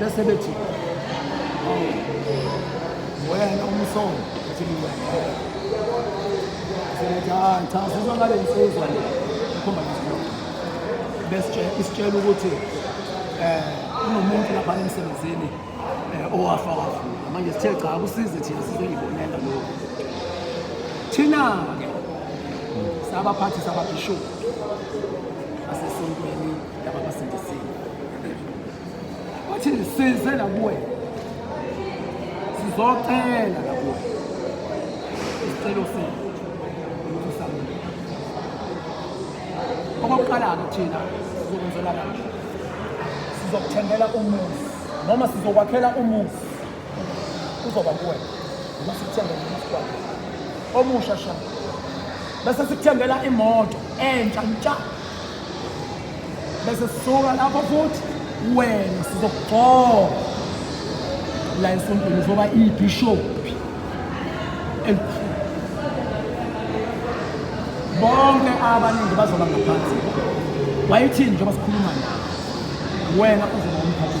bese bethi wena umsongo uthi hayi cha sizwa ngale nsizwa le ikhomba bese isitshela ukuthi eh unomuntu lapha emsebenzini eh, owafa wafa manje sithe cha kusize thina sizengibonela lokho thina ke sabaphathi sababhishophu Laba basindisiwe. Wathi nisize nakuwe. Sizocela nakuwe. Isicelo senu. Okokuqala-ke thina sizokwenzela kanje. Sizokuthengela umuzi noma sizokwakhela umuzi uzoba kuwena noma sikuthengela umuzi kwakhe omusha sha bese sikuthengela imoto entsha ntsha bese sisuka lapho futhi wena sizokugcoba la esontweni uzoba ibhishophi elikhulu bonke abaningi bazoba ngaphansi wayithini njengoba sikhuluma nawe wena uzoba umphathi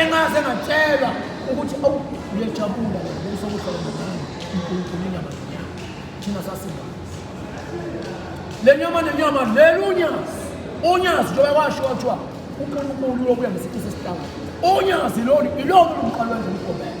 engaze ngatshelwa ukuthi awu uyajabula ngokuso kuhlala nobani uNkulunkulu inyama nenyama thina sasinga le nyama nenyama leli unyazi unyazi njengoba kwasho kwathiwa uNkulunkulu uyobuya ngesikhathi sesihlangano unyazi lolu ilona umqalo wenza umgobelo